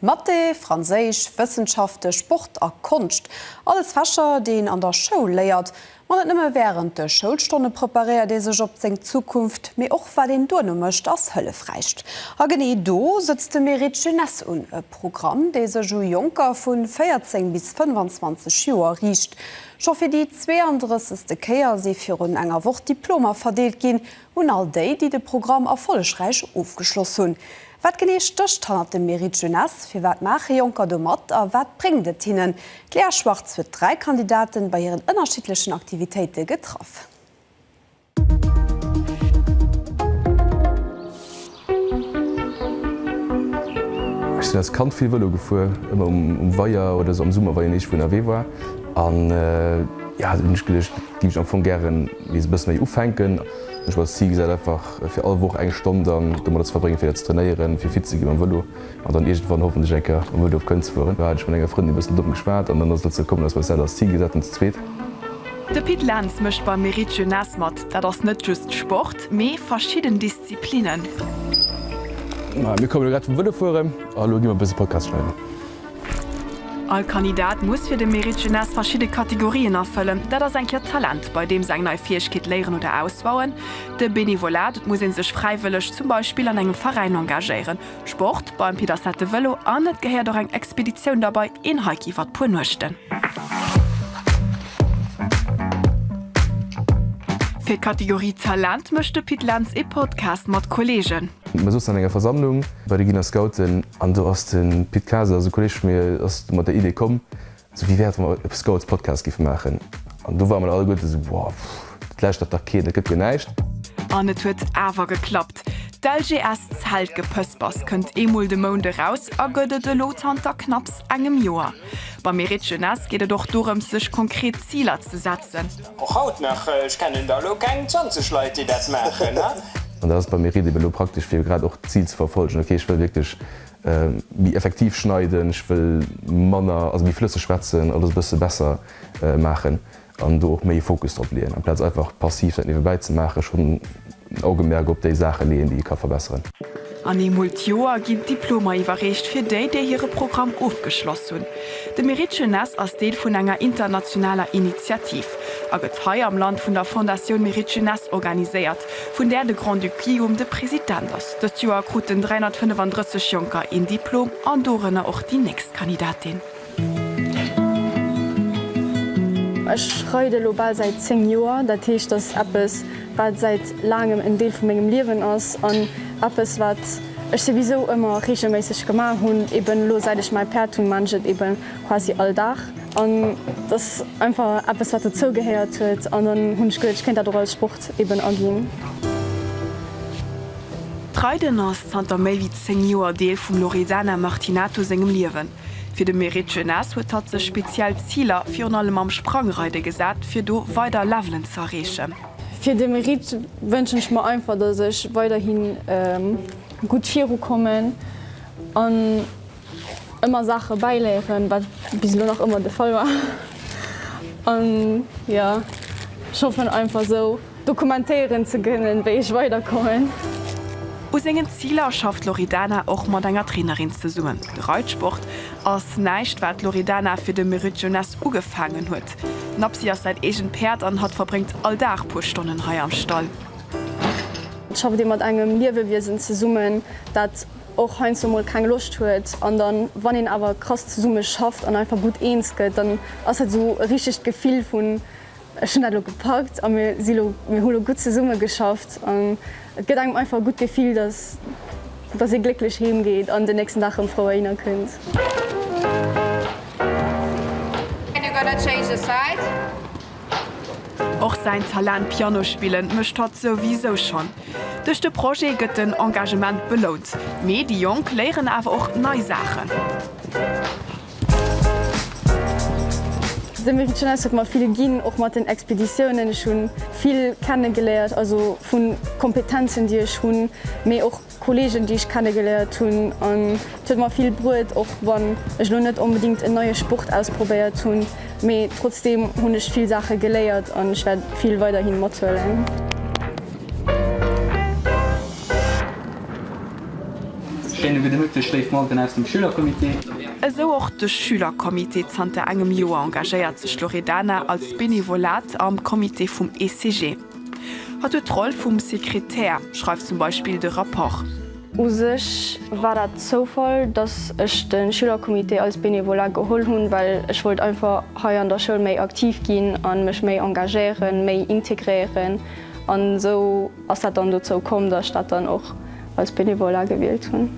Mathé, Franséisch, Wëssenschafte, Sport a Konscht, alles Fächer, déi een an der Schoul léiert. Ma net nëmme wärend de Schoulstonne preparéiert ee sech op seng Zukunft, mee och wat een duerno mécht, ass hëllefräich. A genee do sëtzt de Mérite Jeunesse un, e Programm, dee sech u Jonker vu 14 bis 25 Joer riicht. Scho fir déi 32. Kéier si virun enger Woch Diplomer verdeelt ginn, Un all déi, déi de Programm erfollegräich ofgeschloss hunn, Wat genee stécht hannert dem Mérite Jeunesse? Firwat maache Jonker do mat a wat bréngt et hinnen? D'Léa Schwartz huet dräi Kandidaten bei hiren ënnerschiddlechen Aktivitéite getraff. Ech sinn als Kand vill Vëlo gefuer, ëmmer um Weier oder esou am Summer, wa een iergendwou ënnerwee war. An jo, hunn ech geduecht, dat géif ech am Fong gären nees e bësse méi ufänken. Ech hu mer als Zil gesat, einfach fir all Woch eng Stonn dann domadder ze verbréngen, fir dat ze trainéieren, fir fit ze gi mam Vëlo an dann iergendwann hoffentlech eng Kéier mam Vëlo op Köln ze fueren. Do hat ech mat enger Frëndin e bëssen domm geschwat an dann ass et dozou kommen, dass mer eis dat als Zil gesat hunn, ze zweet. De Pit Lentz mécht beim Meric Jeunesse mat. Dat ass net just Sport, mee verschidden. Disziplinen. Mir komme lo grad vum Vëlo fueren a lo gi mer e bësse Podcast schneiden. All Kandidat muss fir de Mérite Jeunesse verschidde Kategorien erfëllen. Dat ass eng Kéier d'Talent, bei deem se eng nei Fäegkeet léieren oder ausbauen, de Benevolat, et muss ee sech fräiwëlleg zum Beispill an engem Veräin engagéieren, Sport beim Peter Sett de Vëlo an et gehéiert och eng Expeditioun derbei, een Hike iwwert puer Nuechten. Fir d'Kategorie Talent mécht de Pit Lentz ee Podcast mat Kolleegen. Mir souzen an enger Versammlung bei de Giner Scouten an do ass de Pit Kaas, also Kolleeg vu mir, ass do mat der Idee komm, Sophie wäert emol e Scouts Podcast giffe maachen an do ware mer alleguerte sou wow pff et läschtert dach keen, et gëtt jo näischt. An et huet awer geklappt. D'LGS Zelt Gepëspers kënnt eemol de Mount eraus a gëtt et elo zanter knapps engem Joer. Beim Mérite Jeunesse geet et och dorëms sech konkret Ziler ze setzen. Och haut nach, ech kennen der elo keng 20 Leit déi dat maachen. An dat ass beim Mérite ebe elo praktesch fir grad och d'Zil ze verfolgen, ok ech wëll wierklech Méi effektiv schneiden, ech wëll manner, also méi flësseg schwätzen, alles e bësse besser maachen an do och méi Fokus drop leeën, amplaz einfach passiv dat niewebäi ze maachen, schonn en Augemerk op déi Saache leeën, déi ee ka verbesseren. An eemol d'Joer ginn d'Diplomer iwwerreecht fir déi, déi hire Programm ofgeschloss hunn. De Mérite Jeunesse ass Deel vun enger internationaler Initiativ a gëtt hei am Land vun der Fondatioun Mérite Jeunesse organiséiert, vun där de Grand-Duc Guillaume de President ass. Dëst Joer kruten 335 Jonker een Diplom an dorënner och déi nächst Kandidatin. Ech reide elo bal säit 10 Joer, dat heescht dass eppes wat säit laangem en Deel vu mengem Liewen ass an eppes wat ech souwisou ëmmer reegelméisseg gemaach hunn, eben elo säit ech mäi Päerd hunn, maan ech et eben quasi all Dag an dass einfach eppes wat dozou gehéiert huet an dann hunn ech geduet ech kéint dat och als Sport. eben aginn. D'Reiden ass zanter méi wéi 10 Joer Deel vum Loredana Martinato sengem Liewen. Fir de Mérite Jeunesse huet hatt sech speziell Ziler, virun allem am Sprangreide gesat, fir do weider Levelen ze erreechen. Fir de Mérite wënschen ech mer einfach, dass ech weiderhi gutt virukommen. Ëmmer Saache bäiléieren, wat bis elo nach ëmmer de Fall war. An jo, ech hoffen einfach esou dokumentéieren ze kënnen, wéi ech weiderkommen. U sengen Ziler schafft d'Loredana och mat enger Trainerin zesummen. De Reitsport ass näischt, wat d'Loredana fir de Merritt Jeunesse ugefaangen huet. D'Napsi ass säin eegent Päerd an hatt verbréngt all Dag puer Stonnen hei am Stall. Schafft ee mat engem Liewewiesen zesummen, dat och heiansdo mol keng Loscht huet an dann wann een awer krass zesumme schafft an einfach gutt eens gëtt, dann ass dat esou e richtegt Gefill vun ech hunn dat elo gepackt a mir si elo, mir hu elo gutt zesumme geschafft an et gëtt engem einfach e gutt Gefill, dass dass ee glécklech heem geet an den nächsten Dag rëm frou erhinner kënnt. Och säin Talent Piano spillen mécht hatt souwisou schonn. Duerch de Projet gëtt den Engagement belount, mee déi Jonk léieren awer och nei Saachen. De Mérite Jeunesse huet mer vill ginn, och mat den Expeditiounen. Ech hu vill kenne geléiert, also vu Kompetenzen, déi ech hunn, mee och. Kollegen déi ech kennegeléiert hunn an et huet mer vill bruet och wann ech elo net onbedingt en neie Sport ausprobéiert hunn, mee trotzdeem hunn ech vill Saache geléiert an ech wäert vill weiderhi mathuelen. Schéine gudde Mëtteg léif Memberen aus dem Schülercomité. Esou och de Schülercomité. Zanter engem Joer engagéiert sech d'Loredana als Benevolat am Comité vum ECG. Hatt huet d'Roll vum Sekretär, schreift zum Beispill de Rapport. U sech war dat Zoufall, datt ech de Schülercomité als Bénévolat geholl hunn, well ech wollt einfach hei an der Schoul méi aktiv ginn a mech méi engagéieren, méi integréieren. An esou ass dat dann dozou komm, datt ech dat dann och. als Bénévolat gewielt hunn.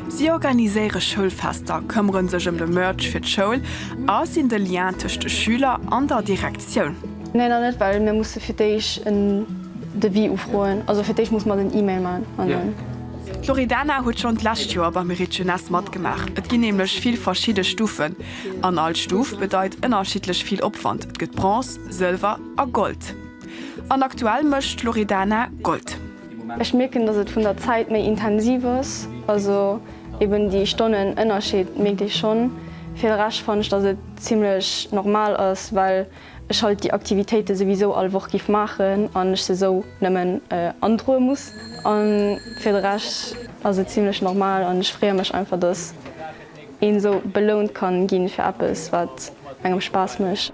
Si organiséiere Schoulfester, këmmere sech ëm de Merch fir d'Schoul a sinn de Lien tëscht de Schüler an der Direktioun. Nee, nach net, well mir musse fir d'éischt en Devis ufroen. Also fir d'éischt musse mer den Email maachen. D'Loredana huet schonn d'lescht Joer beim Mérite Jeunesse matgemaach. Et ginn nämlech vill verschidde Stufen an all Stuf bedeit ënnerschiddlech vill Opwand, et gëtt Bronze, Sëlwer a Gold. An aktuell mécht d'Loredana Gold. Ech mierken, dass et vun der Zäit méi intensiv ass, also eben déi Stonnen Ënnerscheed mierkt ee schonn. Fir de Rescht fannen ech, dass et zimmlech normal ass, well ech halt déi Aktivitéite souwisou all Woch giff maachen an ech se esou nëmmen androe muss. A fir de Rescht ass et zimmlech normal an ech freeë mech einfach, dass een esou belount kann ginn fir eppes wat engem Spaass mécht.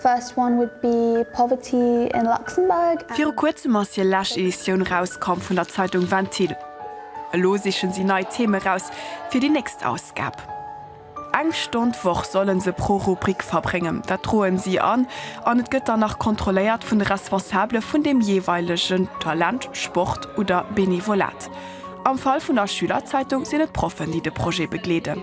First one would be poverty in Luxembourg. Viru kuerzem ass hir lescht Editioun erauskomm vun der Zeitung Ventil. Elo sichen si nei Theme raus fir déi nächst Ausgab. Eng Stonn d'Woch sollen se pro Rubrik verbréngen, dat droen si an, an et gëtt dann nach kontrolléiert vun de Responsabele vun dem jeeweilegen Talent, Sport oder Benevolat. Am Fall vun der Schülerzeitung sinn et d'Proffen, déi de Projet begleeden.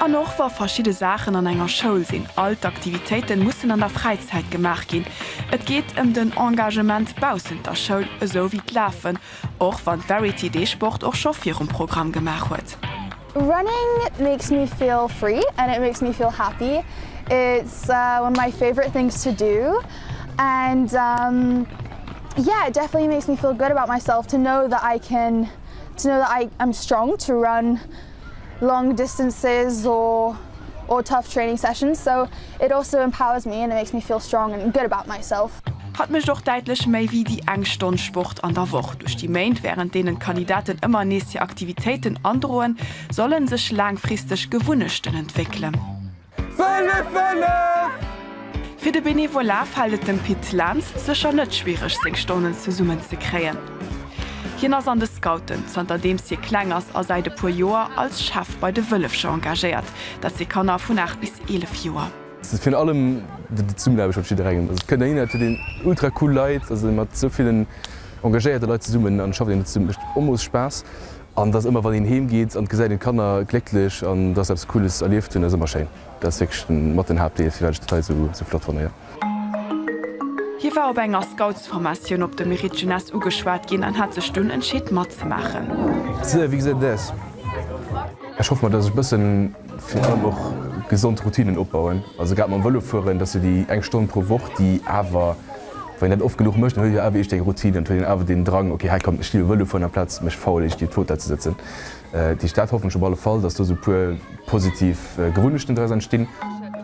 An och wa verschidde Saachen an enger Schoul sinn, all d'Aktivitéiten mussen an der Fräizäit gemaach ginn. Et geet ëm den Engagement baussent der Schoul, esou wéi d'Lafen, och wann d'Verity dee Sport och scho virum Programm gemaach huet. Running makes me feel free and it makes me feel happy. It's one of my favorite things to do and yeah it definitely makes me feel good about myself to know that I can to know that I am strong to run. long distances or or tough training sessions so it also empowers me and it makes me feel strong and good about myself. Hatt mécht och däitlech méi wéi déi eng Stonn Sport an der Woch. Duerch déi Méint, wärend deenen d'Kandidaten ëmmer nees hir Aktivitéiten androen, solle sech laangfristeg Gewunnechten entwéckelen. Fënnef! Fënnef! Fir de Bénévolat fält et dem Pit Lentz sécher net schwiereg seng Stonnen zesummen ze kréien. Hien ass an de Scouten, zanter deems hie kleng ass, a säit e puer Joer als Chef bei de Wëllefcher engagéiert. Dat si Kanner vun 8 bis 11 Joer. Et ass virun allem d'Zesummenaarbecht mat jidderengem. Et kënnt een, et huet een ultra cool Leit, ass ee mat esou villen engagéierte Leit zesummen an et schafft een, et mécht Omoos Spaass. An dass ëmmer wann een heem geet an gesäit een d'Kanner glécklech an dass se eppes Cooles erlieft hunn, ass ëmmer schéin. Dat ass wierklech den mat den Haaptdeel firwat ech d'Leit esou esou flott fannen, jo. Hie war op enger Scoutsformatioun op de Mérite Jeunesse ugeschwat ginn an hat sech dunn entscheet matzemaachen. Sir, wéi gesäit et aus? Ech hoff mol dass ech bëssen virun allem och gesond Routinnen opbauen, also grad mam Vëlo fueren, dass se déi eng Stonn pro Woch déi awer. Wann een dat oft genuch mécht, dann huet een jo awer iech deng Routine an huet een awer den Drang, ok hei kommt ech stinn um Vëlo fueren amplaz mech faul iergendwéi op d'Fauteuil ze sëtzen. Déi Stad hoffen ech op alle Fall, dass do sou e puer positiv Gewunnechten draus entstinn.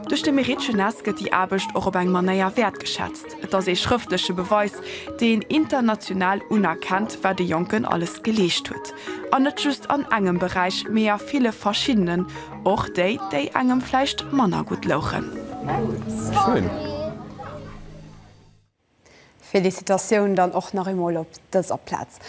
Duerch de Mérite Jeunesse gëtt déi Aarbecht och op eng Manéier wäertgeschätzt. Et ass ee schrëftleche Beweis, dee een international unerkennt, wat e Jonken alles geleescht huet. An net just an engem Beräich, mee a ville verschiddenen, och déi, déi engem vläicht manner gutt louchen. Schéin! Felicitatioun dann och nach eemol op dëser Plaz.